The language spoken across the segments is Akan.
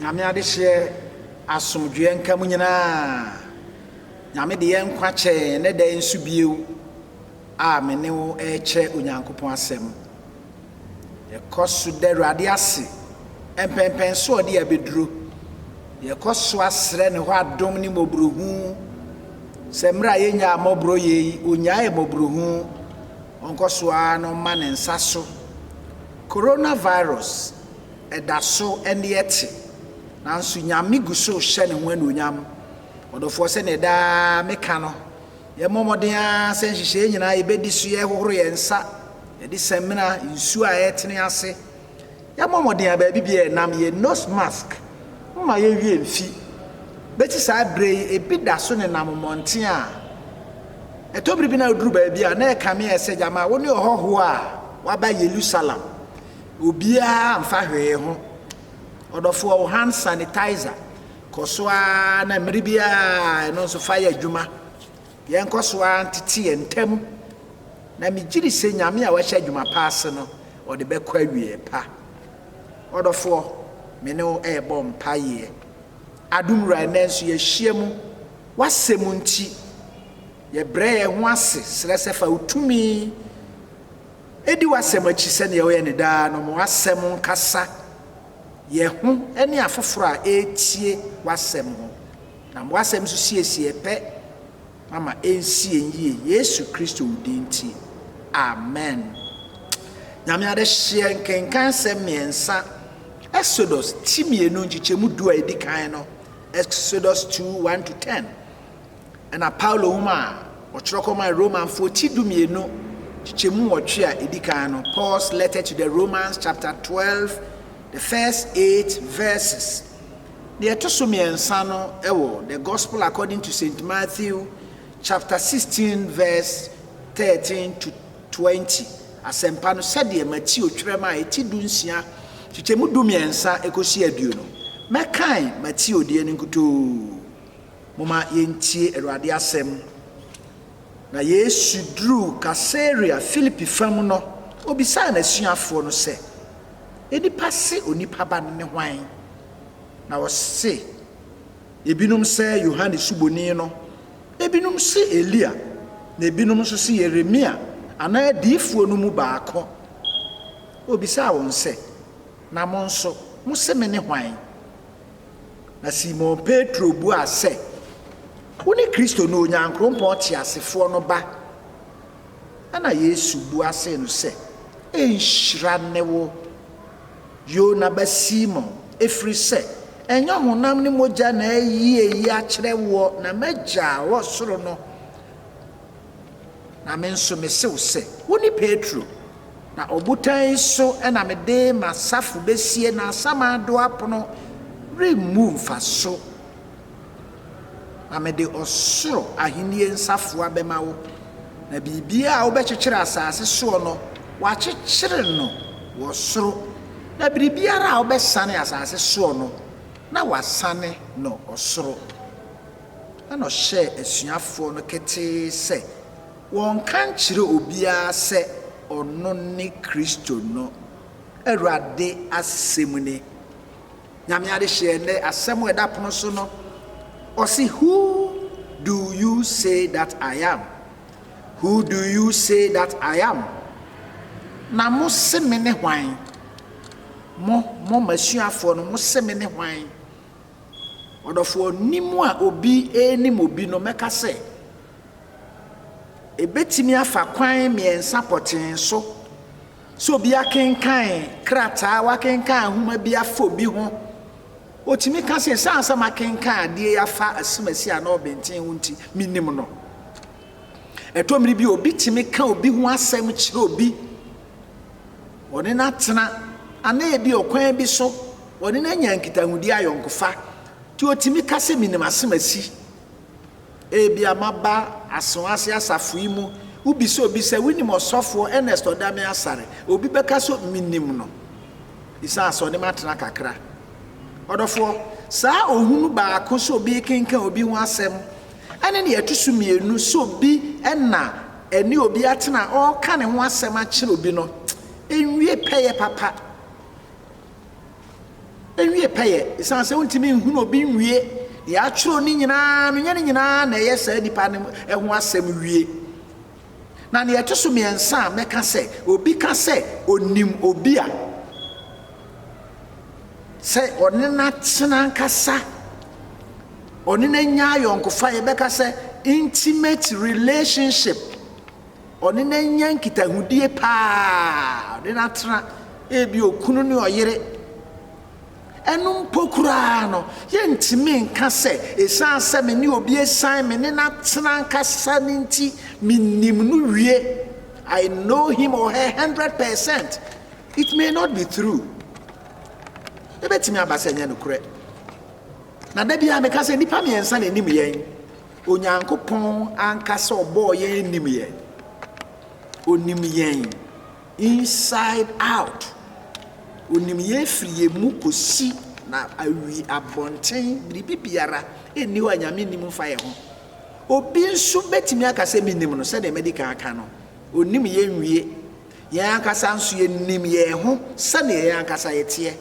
Nyame adehyeɛ asomdwoeɛ nka mo nyinaa. Nyame de yɛn nkwa kyɛ yɛn ɛnɛ da yi nso bio a me ne wo ɛrekyɛ Onyankopɔn asɛm. Yɛkɔ so da Awurade ase mpɛnpɛn so ɔde abɛduro. Yɛkɔ so asrɛ ne hɔ adom ne mmɔborohu sɛ mmerɛ a yɛnyaa mmɔborɔ yei, ɔnyae mmɔborohu. Ɔnkɔ so ara na ɔma ne nsa so. Coronavirus da so ne ɛte, nanso Nyame gu so rehyɛ ne ho anuonyam. Ɔdɔfoɔ, sɛdeɛ daa meka no, yɛmmɔ mmɔden ara sɛ nhyehyɛeɛ nyinaa yɛbɛdi so, yɛhohoro yɛn nsa, yɛde samina, nsuo a ɛretene ase, Yɛabɔ mmɔden a baabi biara yɛnam yɛ nose mask mma yɛnwie mfi. Bɛsi saa berɛ yi ɛbi da so nenam mmɔnten a ɛtɔ bere bi na woduru baabi a na ɛkame ayɛ sɛ gyama wo ne ɔhɔhoɔ a waba Yerusalem obiara mfa hwee ho. Ɔdɔfoɔ wo hand sanitizer kɔ so ara na mmere biara ɛno nso fa yɛ adwuma. Yɛnkɔ so ara ntete yɛn ntam, na megyedi sɛ Nyame a wahyɛ adwuma pa ase no, ɔde bɛkɔ awieɛ pa. Ɔdɔfoɔ, me ne wo rebɔ mpaeɛ. Adom Wura, ɛnnɛ nso yɛahyiam, W'Asɛm nti. Yɛbrɛ yɛn ho ase srɛ sɛ fa Wo tumi di W'Asɛm akyi sɛdeɛ woyɛ no daa no, ma W'Asɛm nkasa yɛn ho ne afoforɔ a ɛretie W'Asɛm ho. Na mo asɛm nso siesiee pɛ, mama ɛnsiee yie, Yesu Kristo wo din nti, amen. Nyame adehyeɛ nkenkan nsɛm mmiɛnsa, Exodus ti mmienu nkyekyɛmu du a ɛdi kan no, Exodus 2, 1-10, ɛna Paulo nwoma a ɔtwerɛ kɔmaa Romanfoɔ ti du mmienu nkyekyɛmu nwɔtwe a ɛdi kan no, Paul's Letter to the Romans chapter 12, the first eight verses. Deɛ ɛto so mmiɛnsa no wɔ The Gospel According to Saint Matthew chapter sixteen verse thirteen to twenty, Asɛmpa no sɛdeɛ Mateo twerɛ maa ɛti du nsia kyekyɛmu du mmiɛnsa kɔsi aduonu. Mɛkan Mateo deɛ no nkutoo. Momma yɛntie Awurade asɛm. Na Yesu duruu Kaesarea Filipi fa mu no, obisaa n'asuafoɔ no sɛ, Nnipa se Onipa Ba no ne hwan? Na wɔse, Ebinom sɛ Yohane Suboni no, ebinom se Elia, na ebinom nso se Yeremia anaa adiyifoɔ no mu baako. Obisaa wɔn sɛ, Na mo nso, mose mene hwan? Na Simon Petro buaa sɛ, Wone Kristo no, Onyankrompɔn teasefoɔ no Ba. Ɛna Yesu bua see no sɛ, Nhyira ne wo, Yona ba Simon, efiri sɛ, ɛnyɛ honam ne mogya na ayi eyi akyerɛ woɔ, na m'Agya a ɔwɔ soro no. Na me nso mese wo sɛ, wone Petro, na ɔbotan yi so na mede m'asafo besie, na asamando apono remmu mfa so. Na mede ɔsoro ahenni nsafoa bɛma wo, na biribiara a wobɛkyekyere asase soɔ no, wɔakyekyere no wɔ soro, na biribiara a wobɛsane asase soɔ no, na wɔasane no ɔsoro. Ɛnna ɔhyɛɛ asuafoɔ no ketee sɛ wɔnka nkyerɛ obiara sɛ ɔno ne Kristo no. Awurade asɛm ni. Nyame adehyeɛ ɛnnɛ asɛm a ɛda pono so no, ɔse, Who do you say that I am? Who do you say that I am? Na mo se me ne hwan? Mo, mo, m'asuafoɔ no, mo se me ne hwan? Ɔdɔfoɔ, nim a obi renim obi no, mɛka sɛ, ɛbɛtumi afa kwan mmiɛnsa pɔtee so sɛ obi akenkan krataa, wakenkan nwoma bi afa obi ho. Ɔtumi ka sɛ, ɛsiane sɛ makenkan adeɛ yi afa asimasi anaa ɔbɛnten ho nti, menim no. Ɛtɔ mmere bi obi tumi ka obi ho asɛm kyerɛ obi wɔne no atena, anaa ebia ɔkwan bi so wɔne no anya nkitahodi ayɔnkofa, nti otumi ka sɛ, Minim asɛm a asi. Ebia maba Asen ase asafo yi mu. Wobisa obi sɛ, Wunim ɔsɔfoɔ Ernest Ɔdame Asare? Obi bɛka sɛ, Minim no, esiane sɛ ɔne me atena kakra. Ɔdɔfoɔ, saa ohu no baako sɛ obi rekenkan obi ho asɛm, ɛne nea ɛto so mmienu sɛ obi na Ɛne obi atena a ɔreka ne ho asɛm akyerɛ obi no nwie pɛyɛ papa. Ɛnwie pɛyɛ, ɛsiane sɛ wontumi nhunu obi nwie deɛ atwerɛ no nyinaa no, nyɛ ne nyinaa na ɛyɛ saa nipa no ho asɛm wie. Na deɛ ɛto so mmiɛnsa a mɛka sɛ, obi ka sɛ onim obi a, sɛ ɔne no atena ankasa, ɔne no anya ayɔnkofa, yɛbɛka sɛ intimate relationship, ɔne no anya nkitahodie paa, ɔne no atena ebi okunu ne ɔyere. Ɛno mpo koraa no, yɛntumi nka sɛ ɛsiane sɛ me ne obi asiane me ne no atena ankasa no nti, menim no wie. I know him or her hundred percent. It may not be true, ebetumi aba sɛ ɛnyɛ nokorɛ. Na da biara meka sɛ nnipa mmiɛnsa na ɛnim yɛn. Onyankopɔn ankasa ɔbɔɔ yɛn anim yɛn. Onim yɛn inside out. Onim yɛn firi yɛn mu kɔsi na awi abɔnten biribi biara ɛnni hɔ a Nyame nim mfa yɛn ho. Obi nso bɛtumi aka sɛ menim no sɛdeɛ madi kan aka no. Onim yɛn nwie. Yɛn ankasa nso yenim yɛn ho sɛnea yɛn ankasa yɛteɛ.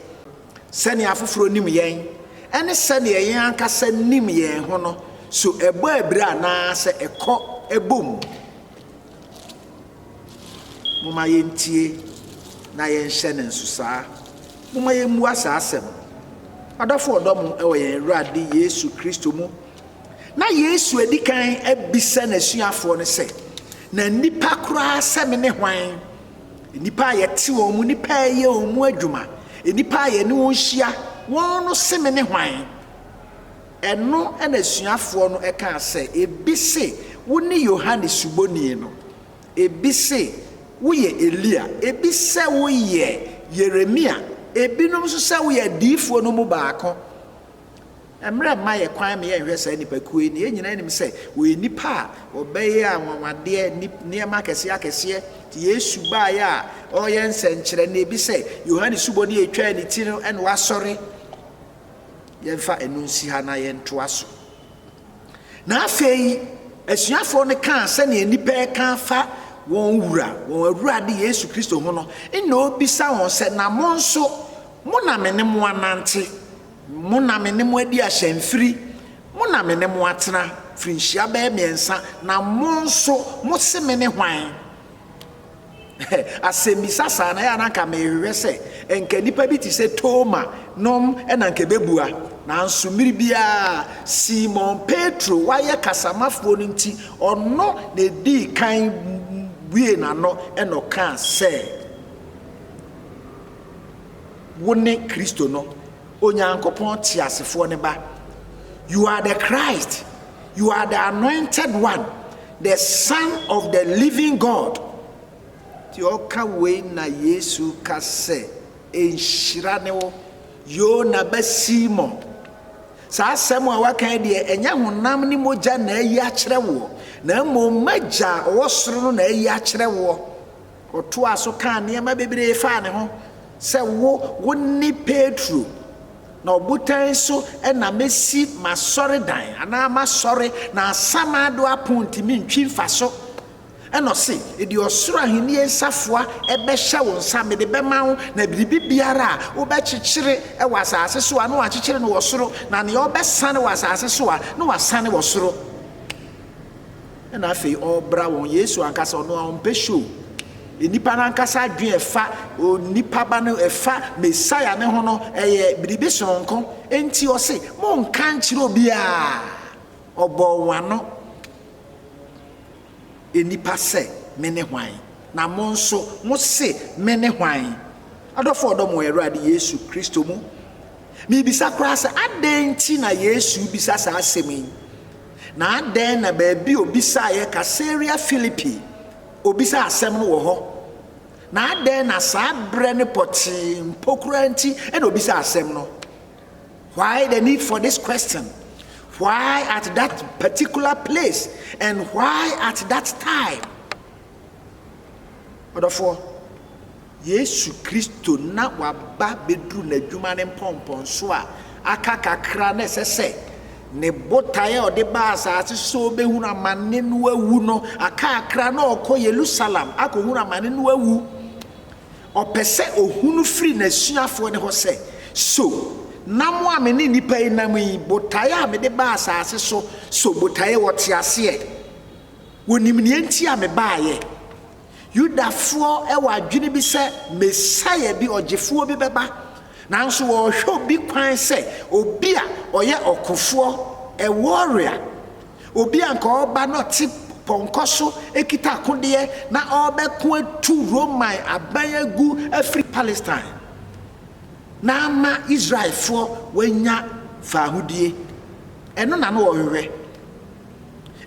Sɛnea afoforo nim yɛn ne sɛnea yɛn ankasa nim yɛn ho no, so ɛbɔ abira anaasɛ ɛkɔ bom? Momma yentie na yɛnhyɛ no nsosaa. Momma yemmua saa asɛm no. Ɔdɔfo a ɔdɔ mo wɔ yɛn Awurade Yesu Kristo mu Ná Yesu adi kan abisa n'asuafoɔ no sɛ, Na nnipa koraa sɛ me ne hwan? Nnipa a yɛte wɔn mu, nnipa a yɛyɛ wɔn mu adwuma, nnipa a yɛne wɔn hyia, wɔn no se me ne hwan? Ɛno na asuafoɔ no kaa sɛ, Ebi se wone Yohane Suboni no, ebi se woyɛ Elia, ebi sɛ woyɛ Yeremia, ebinom nso sɛ woyɛ adiyifoɔ no mu baako. Mmara mma yɛn kwan ma yɛnhwɛ saa nnipakuo yi, na yɛn nyinaa nim sɛ wɔyɛ nnipa a wɔbɛyɛ anwanwadeɛ, nneɛma akɛseɛ akɛseɛ. Nti Yesu baeɛ a ɔreyɛ nsɛnkyerɛnne bi sɛ Yohane Suboni a ɛtwaa ne ti no na wasɔre. Yɛmfa ɛno nsi ha na yɛntoa so. Na afei asuafoɔ no kaa sɛdeɛ nnipa reka afa wɔn wura, wɔn awurade Yesu Kristo ho no, nna ɔbisa wɔn sɛ, Na mo nso, mo na me ne mo anante? Mo na me ne mo adi ahyɛ mfiri, mo na me ne mo atena mfirinhyia bɛyɛ mmiɛnsa, na mo nso mo se me ne hwan? Asɛmmisa saa no, ɛyɛ a na anka mehwehwɛ sɛ anka nnipa bi te sɛ Toma nom na anka ɛbɛbua. Nanso mmere biara, Simon Petro, wayɛ kasamafoɔ no nti, ɔno na ɛdii kan buee n'ano na ɔkaa sɛ, Wo ne Kristo no, Onyankopɔn teasefoɔ no ba. You are the Christ. You are the anointed one, the son of the living God. Ti ɔka wei na Yesu ka sɛ, Nhyira ne wo, Yona ba Simon. Saa asɛm a waka yi deɛ, ɛnyɛ honam ne mogya na ayi akyerɛ woɔ, na mmom m'agya a ɔwɔ soro no na ayi akyerɛ woɔ. Ɔtoaa so kaa nneɛma bebree faa ne ho sɛ, Wo, wone Petro, na ɔbotan so na mɛsi m'asɔredan, anaa m'asɔre, na asamando apon ntumi ntwi mfa so. Ɛnna ɔse, Deɛ ɔsoro ahennie nsafoa bɛhyɛ wo nsa, mede bɛma wo, na biribi biara a wobɛkyekyere wɔ asase so a, na wɔakyekyere no wɔ soro, na nea wobɛsane wɔ asase so a, na wɔasane wɔ soro. Ɛna afei ɔrebra wɔn. Yesu ankasa ɔno a ɔmpɛ show. Nnipa no ankasa adwene ɛfa onipa ba no ɛfa Mesaia ne ho no ɛyɛ biribi soronko. Enti ɔse monka nkyerɛ obiara. Ɔbɔɔ wɔn ano nnipa sɛ mene hwan na mo nso mose mene hwan? Adɔfo ɔdɔ mo Awurade Yesu Kristo mu. Mebisa koraa sɛ adɛn nti na Yesu bisa saa asɛm yi? Na adɛn na baabi a obisaeɛ Caesarea Philippi, obisaa asɛm no wɔ hɔ? Na adɛn na saa berɛ no pɔtee mpo koraa nti na obisaa asɛm no? Why the need for this question? Why at that particular place and why at that time? Ɔdɔfoɔ, Yesu Kristo na waba bɛduru n'adwuma no mpɔmpɔnso a aka kakra na ɛsɛ sɛ ne botae a ɔde baa asase so ɔbɛhunu amane no awu no aka kakra na ɔkɔ Yerusalem akɔhunu amane no awu. Ɔpɛ sɛ ɔhunu firi n'asuafoɔ no hɔ sɛ, so nam a me ne nnipa yi nam yi, botae a mede baa asase so, so botae wɔ te aseɛ? Wonim nea enti a mebaeɛ. Yudafoɔ wɔ adwene bi sɛ Mesaia bi, Ɔgyefoɔ bi bɛba, nanso wɔrehwɛ obi kwan sɛ obi a ɔyɛ ɔkofoɔ, a warrior, obi a nka ɔreba na ɔte pɔnkɔ so kita akodeɛ na ɔrebɛko atu Roman aban agu afiri Palestine na ama Israelfoɔ wɔanya faahodie. Ɛno na na wɔhwehwɛ.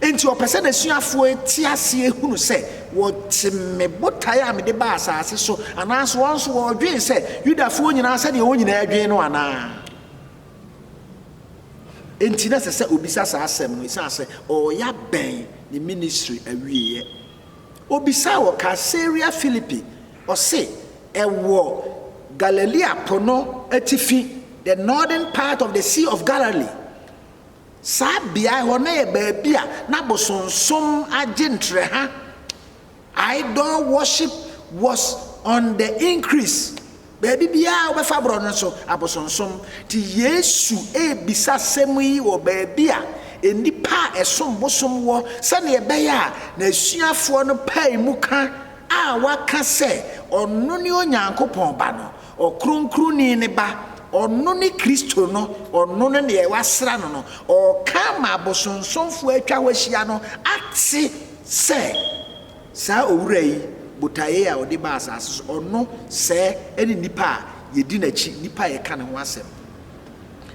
Enti ɔpɛ sɛ n'asuafoɔ te aseɛ hunu sɛ wɔte me botae a mede baa asase so anaasɛ wɔn nso wɔdwen sɛ Yudafoɔ nyinaa sɛdeɛ wɔn nyinaa dwen no anaa. Enti na ɛsɛ sɛ ɔbisa saa asɛm no ɛsiane sɛ ɔreyɛ abɛn ne ministry awieɛ. Ɔbisaa wɔ Kaesarea Filipi, ɔse ɛwɔ Galilea po no atifi, the northern part of the Sea of Galilee. Saa beae hɔ na yɛ baabi a na bosonsom agye ntrɛha, idol worship was on the increase. Baabi biara wobɛfa borɔ no so abosonsom. Nti Yesu rebisa asɛm yi wɔ baabi a nnipa a ɛsom bosom wɔ sɛdeɛ ɛbɛyɛ a n'asuafoɔ no pae mu ka a waka sɛ ɔno ne Onyankopɔn ba no. Ɔkronkronni no ba, ɔno ne Kristo no, ɔno ne nea wɔasra no no, ɔreka ama abosonsomfoɔ a atwa hɔ ahyia no ate sɛ, Saa Owura yi, botaeɛ a ɔde baa asase so, ɔno sɛɛ ne nipa a yɛdi n'akyi, nipa a yɛka ne ho asɛm.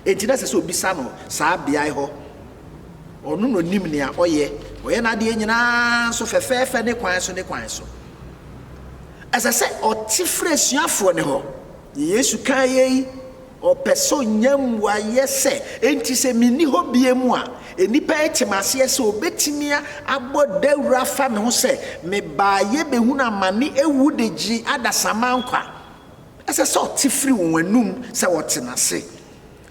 Enti na ɛsɛ sɛ ɔbisa no saa beae hɔ Ɔno na ɔnim nea ɔyɛ. Ɔyɛ n'adeɛ nyinaa nso fɛfɛɛfɛ ne kwan so ne kwan so. Ɛsɛ sɛ ɔte frɛ asuafoɔ no hɔ. Deɛ Yesu kaa yei, ɔpɛ sɛ ɔnya mmuaeɛ sɛ, enti sɛ menni hɔ bio mu a, nnipa ate m'aseɛ sɛ ɔbɛtumi abɔ dawuro afa me ho sɛ, Mebaaeɛ bɛhunu amane awu de gye adasamma nkwa. Ɛsɛ sɛ ɔte firi wɔn anom sɛ wɔte n'ase.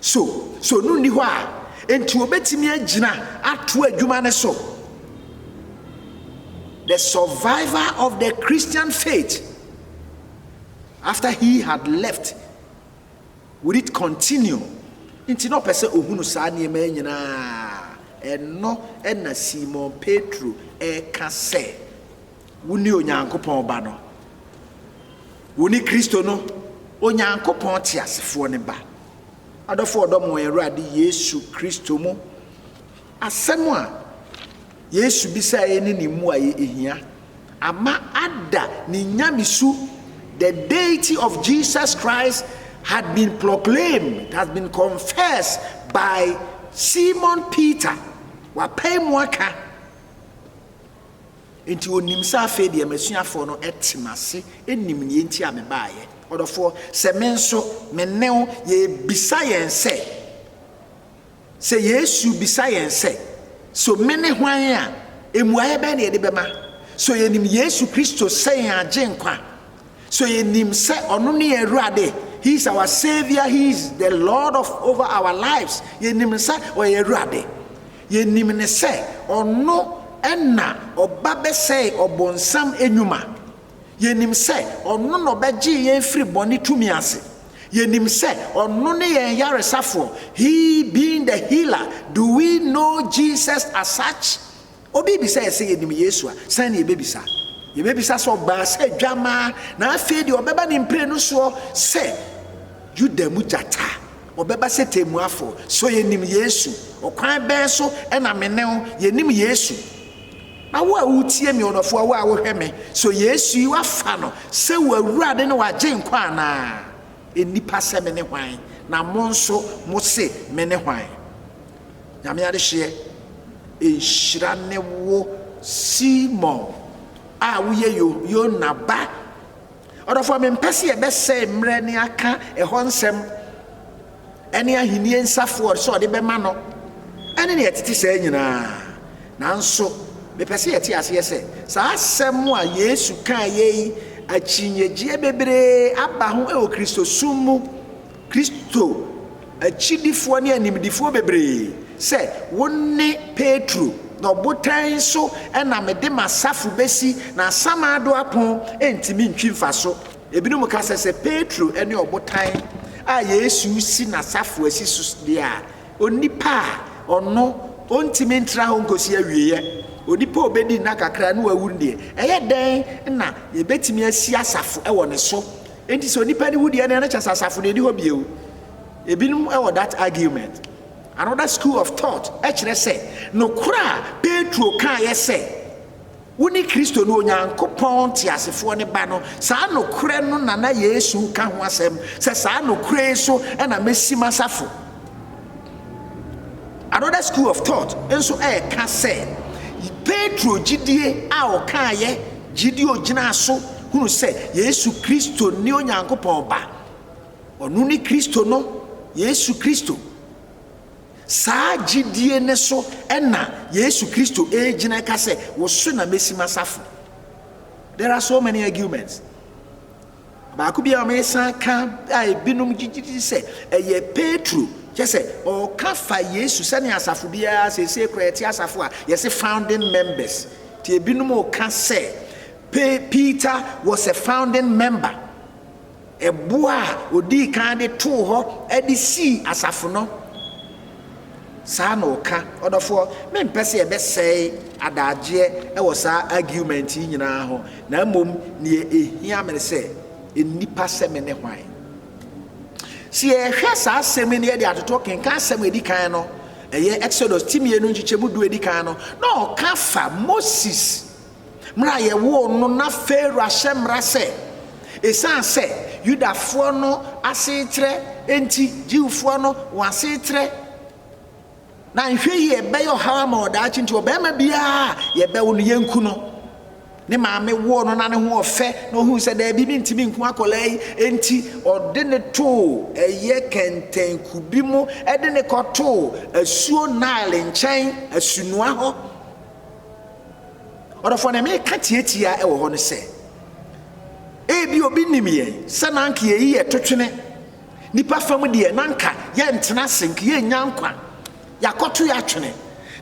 So, so ɔno nni hɔ a, enti ɔbɛtumi agyina ato adwuma no so. The survivor of the Christian faith after he had left would it continue? Nti na ɔpɛ sɛ ɔhunu saa nneɛma nyinaa. Ɛno na Simon Petro ɛka sɛ. Wone Onyankopɔn Ba no. Wone Kristo no, Onyankopɔn teasefoɔ no Ba. Adɔfo ɔdɔ mo wɔn Awurade Yesu Kristo mu. Asɛm a Yesu bisaeɛ ne ne mmuaeɛ ɛhia ama ada ne nyamesu The deity of Jesus Christ had been proclaimed, it has been confessed by Simon Peter. Wapae mu aka. Enti ɔnim sɛ afei deɛ m'asuafoɔ no te m'ase nim deɛ enti a mebaeɛ. Ɔdɔfoɔ, sɛ me nso me ne wo yɛrebisa yɛn sɛ, sɛ Yesu bisa yɛn sɛ, So mene hwan a, mmuaeɛ bɛn na yɛde bɛma? So yɛnim Yesu Kristo sɛ yɛn Agyenkwa? So yɛnim sɛ ɔno ne yɛn Awurade? He is our Savior, He is the Lord of over our lives. Yɛnim sɛ ɔyɛ Awurade. Yɛnim no sɛ ɔno na ɔba bɛsɛe ɔbonsam nnwuma. Yɛnim sɛ ɔno na ɔbɛgyee yɛn firi bɔne tumi ase. Yɛnim sɛ ɔno ne yɛn yaresafoɔ, he being the healer. Do we know Jesus as such? Obi rebisa yɛn sɛ yɛnim Yesu a, sɛn na yɛbɛbisa? Yɛbɛbisa sɛ ɔbaa sɛ dwammaa, na afei deɛ ɔbɛba ne mprenu soɔ sɛ Yuda mu gyata. Wɔbɛba sɛ temmuafoɔ. So yɛnim Yesu? Ɔkwan bɛn so na me ne wo yɛnim Yesu? Na wo a woretie me, ɔdɔfoɔ, wo a wohwɛ me, so Yesu yi woafa no sɛ w'Awurade ne w'Agyenkwa anaa? Nnipa sɛ mene hwan, na mo nso mose mene hwan? Nyame adehyeɛ nhyira ne wo Simon a woyɛ Yona ba. Ɔdɔfoɔ, mempɛ sɛ yɛbɛsɛe mmerɛ ne aka ɛhɔ nsɛm ne Ahennie nsafoɔ sɛ ɔde bɛma no ne deɛ ɛtete saa nyina ara. Nanso mepɛ sɛ yɛte aseɛ sɛ, saa asɛm a Yesu kaeɛ yi, akyinnyegyeɛ bebree aba ho wɔ Kristosom mu. Kristo akyidifoɔ ne animdefoɔ bebree sɛ wo ne Petro, na ɔbotan so na mede m'asafo bɛsi, na asamando apon ntumi ntwi mfa so. Ebinom ka sɛ, sɛ Petro ne ɔbotan a Yesu si n'asafo asi so deɛ a, onipa a ɔno ɔntumi ntra hɔ nkɔsi awieɛ, onipa a ɔbɛdi nna kakra na wawu no deɛ, ɛyɛ dɛn na yɛbɛtumi asi asafo wɔ ne so? Enti sɛ onipa no wu deɛ na kyɛ sɛ asafo no ɛni hɔ bio. Ebinom wɔ that argument. Another school of thought kyerɛ sɛ nokorɛ a Petro kaeɛ sɛ wone Kristo no, Onyankopɔn teasefoɔ no ba no, saa nokorɛ no na na Yesu reka ho asɛm sɛ saa nokorɛ yi so na mɛsi m'asafo. Another School of Thought nso reka sɛ, Petro gyidie a ɔkaeɛ, gyidie a ɔgyinaa so hunu sɛ Yesu Kristo ne Onyankopɔn Ba, ɔno ne Kristo no, Yesu Kristo, saa gyidie no so na Yesu Kristo regyina reka sɛ, Wo so na mɛsi m'asafo. There are so many arguments. Baako bi a wɔsan ka a ebinom gye di sɛ ɛyɛ Petro, kyerɛ sɛ, ɔka fa Yesu sɛnea asafo biara, seesei koraa yɛte asafo a yɛse founding members, nti ebinom reka sɛ Pe Peter was a founding member, ɛboɔ a ɔdii kan de too hɔ de sii asafo no. Saa na ɔka. Ɔdɔfoɔ, mempɛ sɛ yɛbɛsɛe adaagyeɛ wɔ saa argument yi nyinaa ho, na mmom deɛ ɛhia me ne sɛ, nnipa sɛ me ne hwan? Sɛ yɛhwɛ saa asɛm yi na yɛde atoto kenkan asɛm a ɛdi kan no, ɛyɛ Exodus ti mmienu nkyekyɛmu du a ɛdi kan no, na ɔka fa Moses. mmerɛ a yɛwoo no, na Farao ahyɛ mmara sɛ, ɛsiane sɛ Yudafoɔ no asetrɛ nti, Jewfoɔ no wɔn asetrɛ, na nhwɛ yie ɛbɛyɛ ɔhaw ama wɔ daakye nti, ɔbarima biara a yɛbɛwo no, yɛnku no. Ne maame woo no na ne ho ɔfɛ, na ɔhuu sɛ daabi mentumi nku akwadaa yi, enti ɔde ne too ɛyɛ kɛntɛn kubi mu de ne kɔtoo asuo Nile nkyɛn, Asunoa hɔ. Ɔdɔfoɔ, deɛ mereka tiatia wɔ hɔ ne sɛ, ebia obi nim yɛn sɛ na anka yɛyi yɛ totwene nipa fam deɛ na anka yɛntena ase nka yɛnnya nkwa yɛakɔto yɛ atwene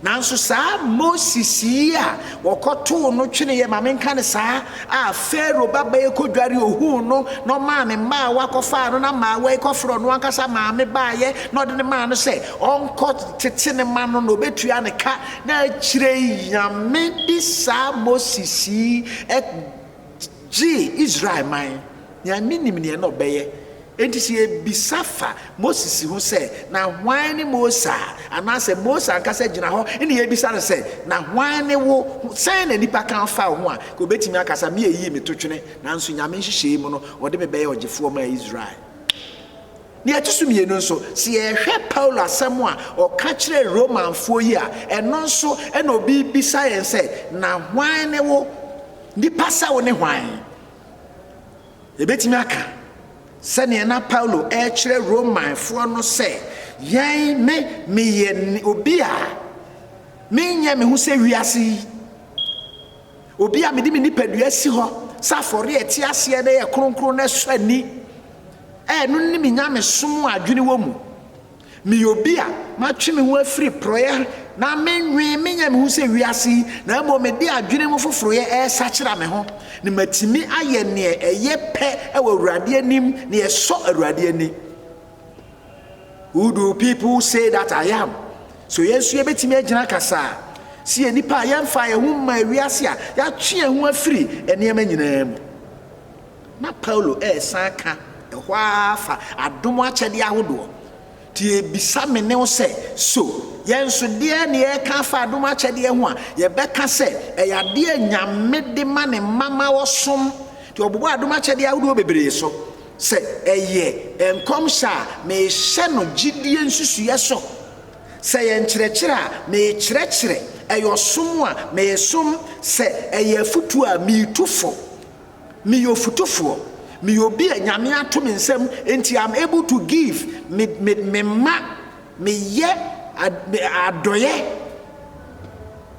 nanso saa moses yi a wɔkɔtoo no twene yɛ ma menka ne saa a faro babayɛ kɔdware ohuu no na ɔmaa ne mmaa wakɔfaa no na maa wai kɔfrɛ ɔno ankasa maame baayɛ na ɔde ne maa no sɛ ɔnkɔ tete ne ma no na ɔbɛtua ne ka Na akyire yi Nyame de saa Moses yi gyee Israel man. Nyame nim neɛ na ɔbɛyɛ. Enti sɛ yɛbisa fa Moses ho sɛ, Na hwan ne Mose a? Anaasɛ Mose ankasa gyina hɔ na yɛbisa no sɛ, Na hwan ne wo? Sɛn na nipa ka fa wo ho a? Nka ɔbɛtumi aka sa, Meyɛ yie, meto twene. Nanso Nyame nhyehyɛɛ mu no, ɔde me bɛyɛ ɔgyefoɔ maa Israel. Nea ɛto so mmienu nso, sɛ yɛhwɛ Paulo asɛm a ɔka kyerɛɛ Romanfoɔ yi a, ɛno nso na obi rebisa yɛn sɛ, Na hwan ne wo? Nipa sɛ wo ne hwan? Yɛbɛtumi aka sɛdeɛ na Paulo rekyerɛ Romanfoɔ no sɛ, Yɛn, me, meyɛ obi a menyɛ me ho sɛ wiase yi. Obi a mede me nipadua asi hɔ sɛ afɔre a ɛte aseɛ na ɛyɛ kronkron na ɛsɔ ani a ɛno ne me nyamesom a adwene wɔ mu. Meyɛ obi a matwe me ho afiri porɔeɛ na mennwen menyɛ me ho sɛ wiase yi na mmom mede adwene mu foforoyɛ resakyera me ho na matumi ayɛ nea ɛyɛ pɛ wɔ Awurade anim, nea ɛsɔ Awurade ani. Who do people say that I am? So yɛn nso yɛbɛtumi agyina kasaa sɛ yɛ nnipa a yɛmfa yɛn ho mma wiase a yɛatwe yɛn ho afiri nneɛma nyinaa mu. Na Paulo ɛresan ka ɛhɔ ara fa adom akyɛdeɛ ahodoɔ. Nti yɛbisa me ne wo sɛ, so yɛn nso deɛ ne yɛreka afa adom akyɛdeɛ ho a yɛbɛka sɛ ɛyɛ adeɛ a Nyame de ma ne mma ma wɔsom? Nti ɔbobɔ adom akyɛdeɛ ahodoɔ bebree so. sɛ ɛyɛ nkɔmhyɛ a, mehyɛ no gyidie nsusuiɛ so, sɛ ɛyɛ nkyerɛkyerɛ a, mekyerɛkyerɛ, ɛyɛ ɔsom a, mesom, sɛ ɛyɛ afutuo a, metu fo. Meyɛ ofutufoɔ. Meyɛ obi a Nyame ato me nsam, nti I'm able to give, me, me, me ma, meyɛ adɔyɛ.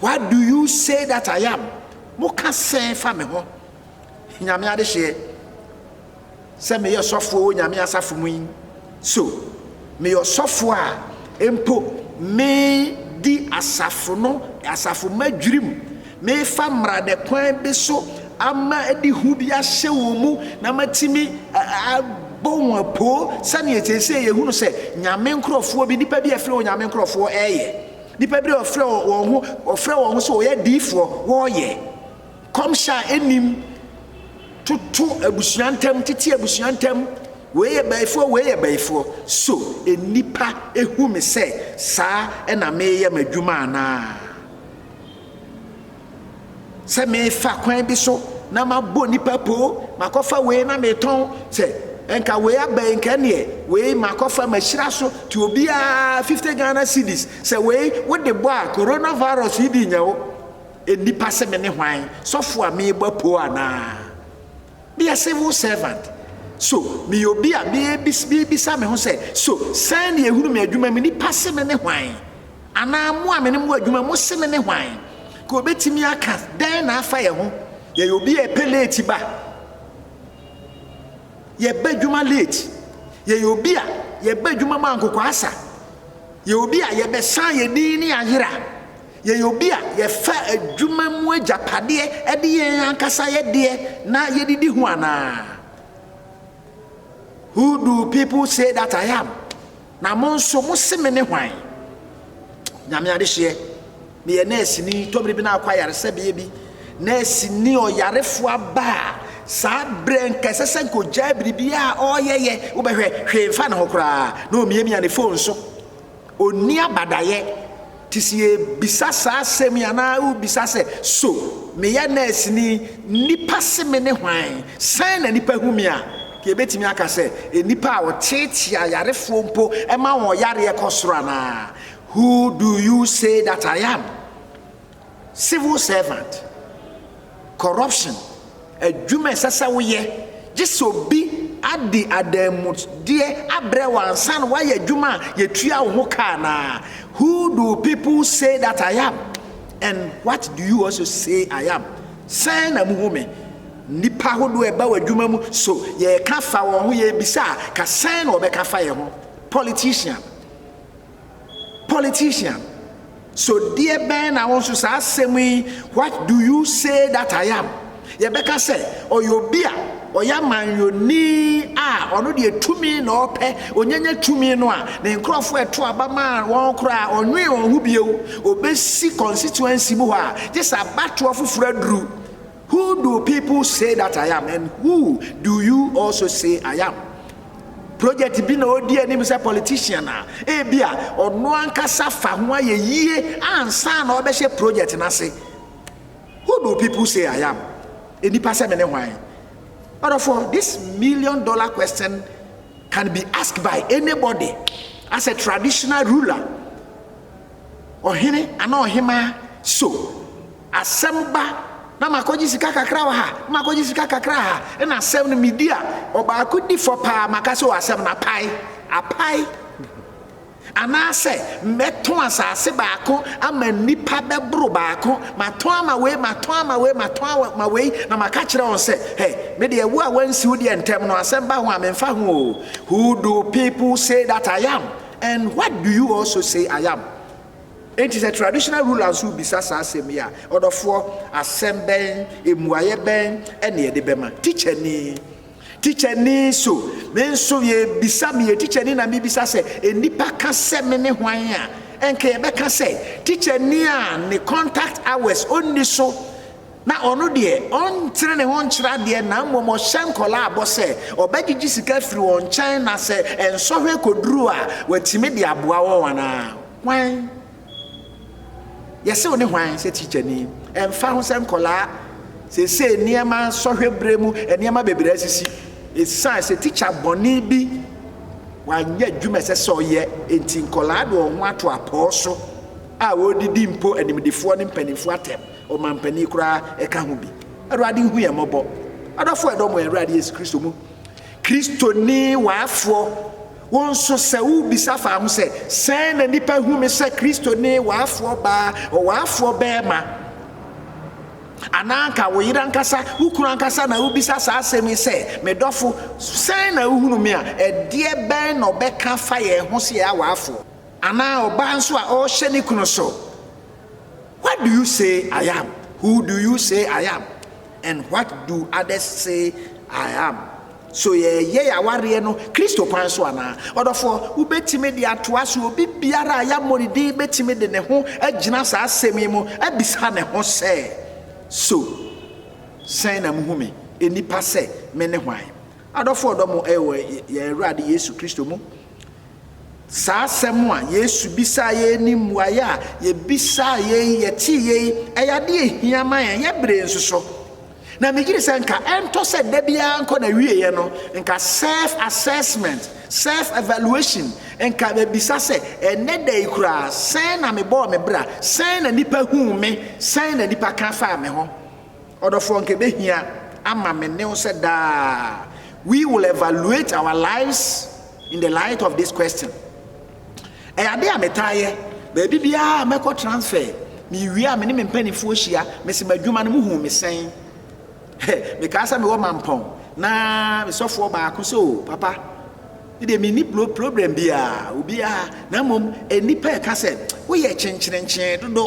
What do you say that I am? Mo ka sɛn fa me ho? Nyame adehyeɛ, sɛ me yɛ sɔfoɔ wɔ Nyame asafo mu yi, so me yɛ ɔsɔfoɔ a mpo me di asafo no asafo ma dwirim, me fa mmara dɛ kwan bi so ama adi hu bi ahyɛ wɔn mu na ma tumi abɔ wɔn apoo sɛdeɛ sɛsɛ yɛ hunu sɛ Nyame nkorɔfoɔ bi, nipa bi a ɛfiri wɔ Nyame nkorɔfoɔ ɛyɛ. Nnipa bi a wɔfrɛ wɔn ho wɔfrɛ wɔn ho sɛ wɔyɛ adiyifoɔ, wɔyɛ kɔmhyɛ a ɛnnim, toto abusua ntam, tete abusua ntam, wei yɛ bayifoɔ, wei yɛ bayifoɔ. So nnipa hu me sɛ saa na meyɛ m'adwuma anaa? sɛ mefa kwan bi so na mabɔ nipa poo makɔfa wei na metɔn sɛ nka wei aba yi nka neɛ wei makɔfa mahyira so ti obiara 50 Ghana cedis sɛ wei wode bɔ a coronavirus yi di nya wo nnipa sɛ me ne hwan sɔfo a mebɔ poo anaa Be a civil servant, So meyɛ obi a mebisa me ho sɛ, 'So sɛn na yɛhunu me adwuma mu? Nnipa se mene hwan? Anaa mo a me ne mo wɔ adwuma mu se mene hwan? Ka obetumi aka dɛn na afa yɛn ho? Yɛyɛ obi a ɛpɛ leeti ba. Yɛba adwuma leeti. Yɛyɛ obi a yɛba adwuma mu ankokoasa. Yɛyɛ obi a yɛbɛsan yɛn din ne ayera. Yɛyɛ obi a yɛfa adwuma mu agyapadeɛ de yɛn ankasa yɛ deɛ na yɛde di ho anaa? Who do people say that I am? Na mo nso mo se me ne hwan? Nyame adehyeɛ, meyɛ nɛɛseni, tɔbere bi na akɔ ayaresɛbea bi. Nɛɛseni ɔyarefoɔ aba a, saa berɛ nka ɛsɛ sɛ nka ɔgyaa biribiara a ɔreyɛyɛ, wobɛhwɛ hwee mfa ne ho koraa na ɔmiamia ne fon so. Ɔnni abadaeɛ. Te sɛ yɛrebisa saa asɛm yi anaa wobisa sɛ, So meyɛ nɛɛseni? Nnipa se me ne hwan? Sɛn na nnipa hu me a? Nka yɛbɛtumi aka sɛ, Nnipa a wɔteetee ayarefoɔ mpo ma wɔn yareɛ kɔ soro anaa? Who do you say that I am? Civil servant, corruption, adwuma a ɛsɛ sɛ woyɛ gye sɛ obi adi adanmudeɛ abrɛ wo ansa na woayɛ adwuma a yɛtua wo ho ka anaa? Who do people say that I am and what do you also say I am? Sɛn na muhu me? Nnipa ahodoɔ a ɛba w'adwuma mu so yɛka fa wɔn ho yɛbisa a ka sɛn na wɔbɛka fa yɛn ho? Politician. politician so deɛ bɛn na wo nso saa asɛm yi what do you say that I am yɛbɛka sɛ ɔyɛ obi a ɔyɛ amanyɔni a ɔno deɛ tumi na ɔpɛ onyanya tumi no a ne nkurɔfoɔ ɛto aba ma wɔn koraa ɔnwee wɔn ho bio ɔbɛsi constituency mu hɔ a gye sɛ abatoɔ foforɔ aduru Who do people say that I am and who do you also say I am? Project bi na ɔdi anim sɛ politician a ebi a ɔno ankasa fa ho ayɛ yie ansa na ɔbɛhyɛ project no ase. Who do people say I am? Nnipa sɛ me ne hwan? Ɔdɔfoɔ, this million dollar question can be asked by anybody as a traditional ruler. Ɔhene anaa ɔhemaa so. Asɛm ba na makɔgye sika kakra wɔ ha na makɔgye sika kakra ha na asɛm no medi a, ɔbaako di fɔ paa maka sɛ o asɛm no apae, apae. Anaasɛ mɛtɔn asase baako ama nnipa bɛboro baako, matɔn ama wei, matɔn ama wei, matɔn ama wei, na maka kyerɛ wɔn sɛ, hɛ, me deɛ wo a wansi wo deɛ ntɛm no, asɛm ba ho a memfa ho o. Who do people say that I am and what do you also say I am? Enti sɛ traditional ruler nso rebisa saa asɛm yi a, ɔdɔfoɔ, asɛm bɛn, mmuaeɛ bɛn na yɛde bɛma? Tikyani, Tikyani, so me nso yɛrebisa, meyɛ tikyani na mebisa sɛ, nnipa ka sɛ me ne hwan a, ɛnka yɛbɛka sɛ, tikyani a ne contact hours ɔnni so Na ɔno deɛ, ɔntene ne ho nkyerɛ adeɛ, na mmom ɔhyɛ nkwadaa bɔ sɛ ɔbɛgyegye sika afiri wɔn nkyɛn, na sɛ nsɔhwɛ kɔduru a, watumi de aboa wɔn anaa? Hwan? Yɛse wo ne hwan sɛ tikyani? Ɛmfa ho sɛ nkwadaa seesei nneɛma sɔhwɛ berɛ mu, nneɛma bebree asisi ɛsiane sɛ tikya bɔne bi wanyɛ adwuma ɛsɛ sɛ ɔyɛ enti nkwadaa de wɔn ho ato apɔɔ so a wɔredidi mpo animdefoɔ ne mpanimfoɔ atɛm. Ɔmampanin koraa ka ho bi. Awurade hu yɛn mmɔbɔ. Adɔfo ɛdɔm wɔ Awurade Yesu Kristo mu. Kristoni waafoɔ, wo nso sɛ wobisa fa ho sɛ, sɛn na nnipa hu me sɛ Kristoni waafoɔ baa, ɔwaafoɔ bɛrima, anaa anka wo yere ankasa, wo kunu ankasa na wobisa saa asɛm yi sɛ, me dɔfo, sɛn na wohunu me a, ɛdeɛ bɛn na ɔbɛka fa yɛn ho sɛ yɛyɛ awaafoɔ? Anaa ɔbaa nso a ɔrehyɛ ne kunu so. What do you say I am? Who do you say I am? And what do others say I am? So yɛyɛ yɛn awareɛ no Kristo kwan so anaa? Ɔdɔfoɔ, wobɛtumi de atoa so obi biara a yɛabɔ ne din bɛtumi de ne ho agyina saa asɛm yi mu abisa ne ho sɛ, So sɛn na mohu me, nnipa, sɛ mene hwan? Adɔfoɔ ɔdɔ mo wɔ yɛn Awurade Yesu Kristo mu Saa asɛm a Yesu bisaa yei ne mmuaeɛ a yɛbisaa yei, yɛtee yei, ɛyɛ adeɛ ɛhia ma yɛn, yɛ beree nso so. Na megyiri sɛ nka ɛntɔ sɛ da biara nkɔ na wieɛ no, nka self assessment, self evaluation, nka bɛbisa sɛ ɛnɛ da yi koraa sɛn na mebɔɔ me bra, sɛn na nipa huu me, sɛn na nipa ka faa me ho. Ɔdɔfoɔ nka ɛbɛhia ama me ne wo sɛ daa we will evaluate our lives in the light of this question. Ɛyɛ adeɛ a metaa yɛ baabi biara mɛkɔ transfer mewie a me ne me mpanimfoɔ hyia mese m'adwuma no muhu me sɛn mekaa sɛ mewɔ mampɔn na mesɔfoɔ baako sɛ o papa deɛ menni problem biara obiara na mmom nnipa ɛka sɛ woyɛ kyenkyerenkyee dodo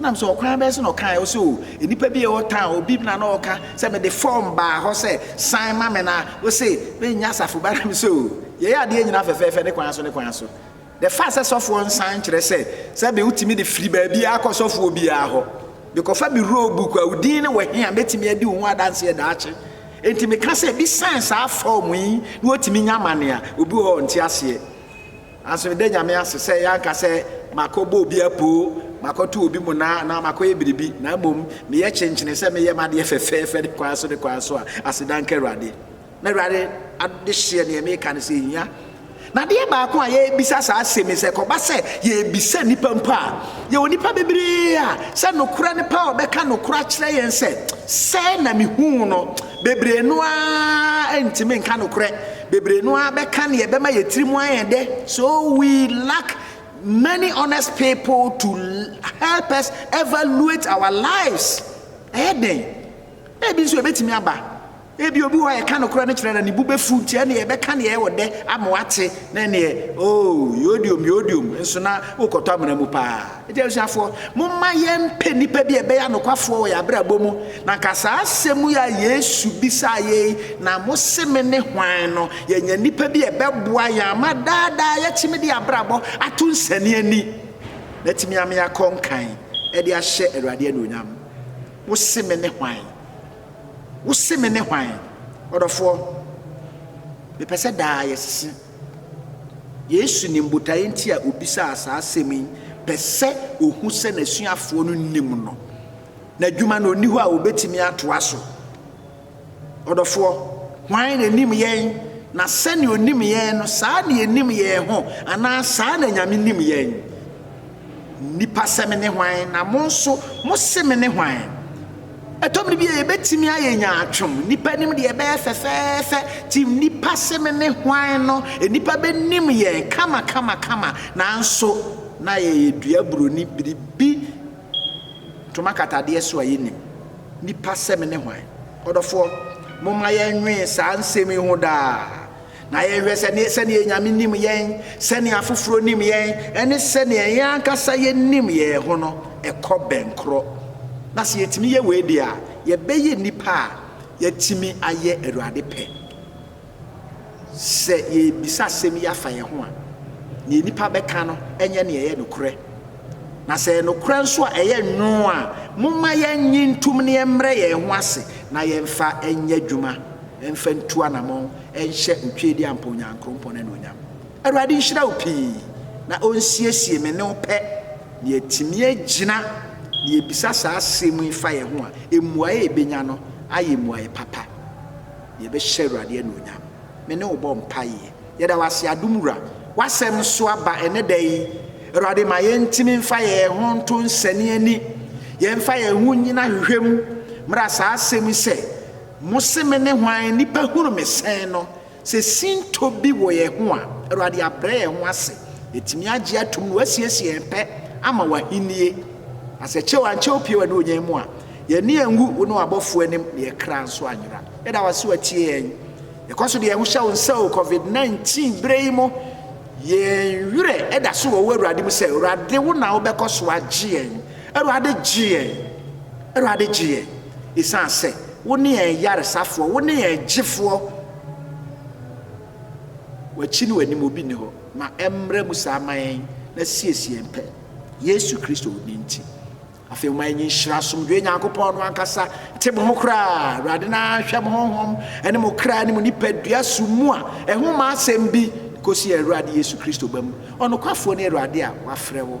Nam sɛ ɔkwan bɛn so na ɔkae? Ɔse o, nnipa bi a ɛwɔ town, obi bi na na ɔka sɛ mede form baa hɔ sɛ sign ma me na ose me nyɛ asafo ba na me se o, yɛyɛ adeɛ nyinaa fɛfɛɛfɛ ne kwan so ne kwan so. The fact sɛ sɔfoɔ nsan nkyerɛ sɛ sɛbe wotumi de firi baabiara kɔ sɔfoɔ biara hɔ. Mekɔfa me roll book a wo din ne wɔ he a mɛtumi adi wo ho adanseɛ daakye. Enti meka sɛ bi sign saa form yi na watumi nya amane a, obi wɔ hɔ a ɔnte aseɛ. Naaso meda Nyame ase sɛ yɛannka sɛ makɔbɔ obi apoo, makɔto obi monaa anaa makɔyɛ biribi, na mbom meyɛ kyenkyenee sɛ meyɛ m'adeɛ fɛfɛɛfɛ ne kwan so ne kwan so a, aseda nka Ewuradee. Na Ewuradee adehyeɛ neɛ meeka no sɛ ehia. Na adeɛ baako a yɛrebisa saa asem yi, sɛ ɛkɔba sɛ yɛrebisa nnipa mpo a, yɛwɔ nnipa bebree a sɛ nokorɛ no pɛ a wɔbɛka nokorɛ akyerɛ yɛn sɛ sɛɛ na mehuu no, bebree no ara nntumi nka nokorɛ. Bebree no ara bɛka nea ɛbɛma yɛn tirim ayɛ dɛ, so we lack many honest people to help us evaluate our lives. Ɛyɛ den. Na ebi nso ebetumi aba. Ebi obi hɔ a yɛka nokorɛ no kyerɛ na ne bo bɛfu nti ɛne yɛbɛka nea ɛwɔ dɛ ama wate na ɛneɛ oh yodiom yodiom nso na wokɔtɔ amena mu paa. Agya Asuafoɔ, momma yɛmpɛ nnipa bi a ɛbɛyɛ anokwafoɔ wɔ yɛn abrabɔ mu. Na anka saa asɛm yi a Yesu bisaa yɛn yi, Na mose me ne hwan? no, yɛanya nnipa bi a ɛbɛboa yɛn ama daa daa yɛatumi de yɛn abrabɔ ato nsɛnneɛni, na atumi ama yɛakɔ nkan de ahyɛ Awurade anuonyam. Wose me ne hwan? Wose me ne hwan? Ɔdɔfoɔ, mepɛ sɛ daa yɛsese. Yesu nim botaeɛ nti a ɔbisaa saa asɛm yi, pɛ sɛ ɔhu sɛ n'asuafoɔ no nim no. N'adwuma no, ɔnni hɔ a ɔbɛtumi atoa so. Ɔdɔfoɔ, hwan na nim yɛn? Na sɛnea ɔnim yɛn no, saa na yɛnim yɛn ho, anaa saa na Nyame nim yɛn? Nnipa sɛ mene hwan, na mo nso mose mene hwan? Ɛtɔ mmere bi a yɛbɛtumi ayɛ nyaatwom. Nnipa nim deɛ ɛbɛyɛ fɛfɛɛfɛ. Ti nnipa se mene hwan no, nnipa bɛnim yɛn kamakamakama. Nanso na yɛyɛ dua buroni biribi ntoma katadeɛ so a yɛnnim. Nnipa sɛ mene hwan? Ɔdɔfoɔ, momma yɛnnwene saa nsɛm yi ho daa. na yɛnhwɛ sɛ ne sɛnea anyame nim yɛn, sɛnea afoforɔ nim yɛn, ne sɛnea yɛn ankasa yɛnim yɛn ho no kɔ bɛn korɔ. Na sɛ yɛtumi yɛ wei deɛ a, yɛbɛyɛ nnipa a yɛatumi ayɛ Awurade pɛ. Sɛ yɛrebisa asɛm yi afa yɛn ho a, deɛ nnipa bɛka no nyɛ nea ɛyɛ nokorɛ. Na sɛ ɛyɛ nokorɛ nso a ɛyɛ nwoo a, momma yɛnnye ntom na yɛmmrɛ yɛn ho ase na yɛmfa nyɛ adwuma mfa ntu anammɔn nhyɛ otweedi ampa Onyankrompɔn anuonyam. Awurade nhyira wo pii na onsiesie me ne wo pɛ na yɛatumi agyina na yɛbisa saa asɛm yi fa yɛn ho a, mmuae a yɛbɛnya no ayɛ mmuae papa na yɛbɛhyɛ Awurade anuonyam. Me ne wo bɔ mpaeɛ. Yɛda wo ase Adom Wura, w'asɛm nso aba ɛnɛ da yi. Awurade ma yɛntumi mfa yɛn ho nto nsɛne ani, yɛmfa yɛn ho nnyina hwehwɛ mu mmra saa asɛm yi sɛ, Mose me ne hwan, nnipa hunu me sɛn no? Sɛ sintɔ bi wɔ yɛn ho a, Awurade abrɛ yɛn ho ase, yɛatumi agye atom na wasiesie yɛn pɛ ama w'ahennie. Na sɛ kyɛw ankyɛ wo pie w'ani ɔnyan mu a, yɛn ani anwu wo ne w'abɔfoɔ anim, na yɛn kra nso anyera. Yɛda wo ase watie yɛn. Yɛkɔ so de yɛn ho hyɛ wo nsa o, covid 19 berɛ yi mu, yɛn werɛ da so wɔ wo Awurade mu sɛ, Awurade wo na wobɛkɔ so agye yɛn. Awurade gye yɛn, Awurade gye yɛn, esiane sɛ Wo ne yɛn Yaresafoɔ, Wo ne yɛn Gyefoɔ. W'akyi ne W'anim obi nni hɔ. Ma ɛmmra mu saa ma yɛn na siesie yɛn pɛ, Yesu Kristo Wo din nti. Afei momma yɛnyɛ nhyira asomdwoeɛ Nyankopɔn no ankasa te mo ho koraa. Awurade na hwɛ mo honhom ne mo kra ne mo nipadua so mu a ɛho mma asɛm bi kɔsi yɛn Awurade Yesu Kristo ba mu, ɔnokwafoɔ ne Awurade a wafrɛ wo.